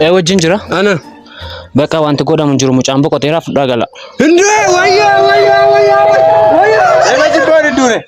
Ee wajjin jira. Ana. Bakka wanti godhamu hin jiru mucaan boqoteera fudhaa gala. Hindee wayyaa wayyaa wayyaa wayyaa. Nama jibbaan hin duune.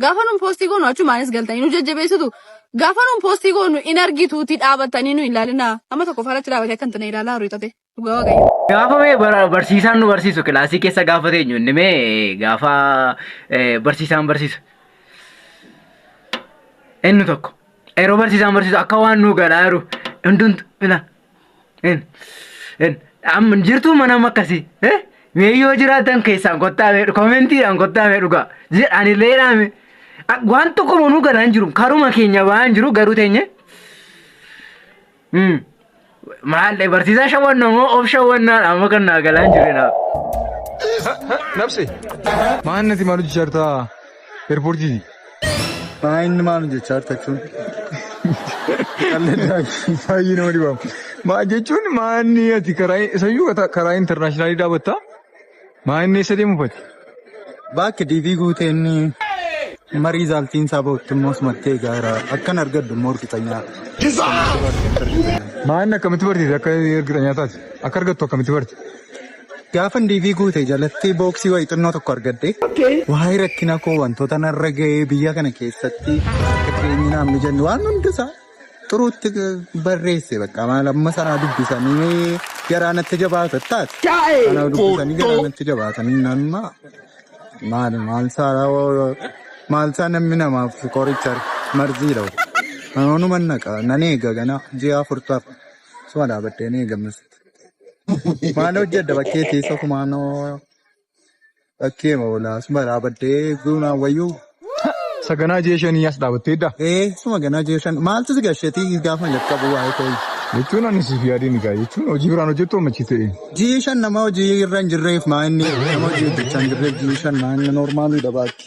Gaafa nuun poostii goonu achumaanis galtanii nu jajjabeessitu. Gaafa nuun poostii goonu in argituuti dhaabattanii nu ilaalinaa. Amma tokko faratti dhaabatee akka hin tane ilaalaa horii tate. Dhugaa waaqayyo. Gaafa mee bara- barsiisaan nu barsiisu kilaasii keessa gaafa teenyu inni mee gaafa eh, barsiisaan barsiisu inni tokko yeroo barsiisaan barsiisu akka waan nu galaa jiru hundumtu ila En, en, amma jirtuu mana amma akkasii. Eh? Mee yoo jiraatan keessaan kottaa mee koomentiidhaan kottaa mee dhugaa. Jedhaan illee dhaame. Waan tokko manuu galaa hin jiru. Karuma keenya ba'aa hin jiru garuu teenye. Mm. Maal eh, barsiisaa shawwanna moo of shawwannaadha amma kan naa galaa hin jiru naaf. Nabse. Maannati maal hojjechartaa? Eerpoortii. Maa inni maal jechaa jirta jechuun. Baay'ee nama dhibamu. Maa jechuun maa inni ati karaa isayyuu karaa intarnaashinaalii dhaabatta. Maa inni eessa deemu fati? Baakki diivii guutee inni marii zaaltiin isaa bahutti immoo sumattee gaara akkan argadhu immoo hirkisanyaa. Maa inni akkamitti barteeti akka hirkisanyaa taate? Akka argattu akkamitti barte? Gaafan diivii guute jalatti booksii wayii xinnoo tokko argadhe. Waa'ee rakkina koo wantoota narra ga'ee biyya kana keessatti akka jireenyi naaf mijanne waan hundasaa xuruutti barreesse bakka maal amma sanaa dubbisanii garaa natti jabaata taate. Sanaa dubbisanii garaa natti jabaatanii nama maal maal saalaa maal saa namni namaaf qoricha marziidha. Anoonu mannaqa nan eega ganaa ji'a afurtaaf suma dhaabadhee ni eegamnasitti. Maal hojjedha bakkee teessa kumaa noo bakkee moolaa suma dhaabaddee guunaa wayyuu. Saganaa jee shanii as dhaabattee dha. Ee suma ganaa jeeshan maaltu si gasheetii gaafa jalqabu waa'ee koo. Jechuun ani siif yaadee ni gaa jechuun hojii biraan hojjettu ammachi ta'e. Jiishan nama hojii irra hin jirreef maa inni nama hojii hojjechaa hin jirreef jiishan maa inni normaaliidha baakki.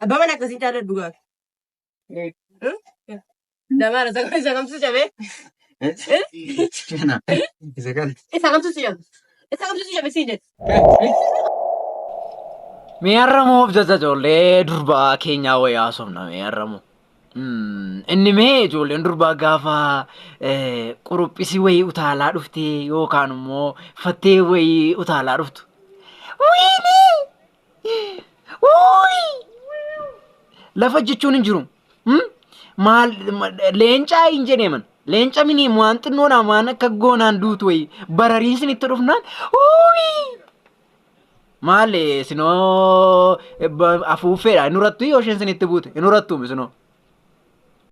Abbaa mana akkasii caalaa dhugaa. Damaa rasa kan isa kamtu cabe. Kana. Isa kana. Isa kamtu si cabe. Isa kamtu si cabe si jedhe. Mee har'amoo of jajja ijoollee durbaa keenyaa wayii haasofna mee har'amoo. Inni mee ijoolleen durbaa gaafa eh, quruphisi wayii utaalaa dhuftee yookaan immoo fattee wayii utaalaa dhuftu. Wayinii! Uuyi! Lafa jechuun hin jiru. Hmm? Maal ma- leencaa hin jedheeman. Leenca mini waan xinnoodhaan waan akka goonaan duutu wayii barariin sinitti dhufnaan uuyi! Maal eh, sinoo eh, ba- afuuffeedha hin hurattu yoo isheen sinitti buute hin hurattuumi sinoo.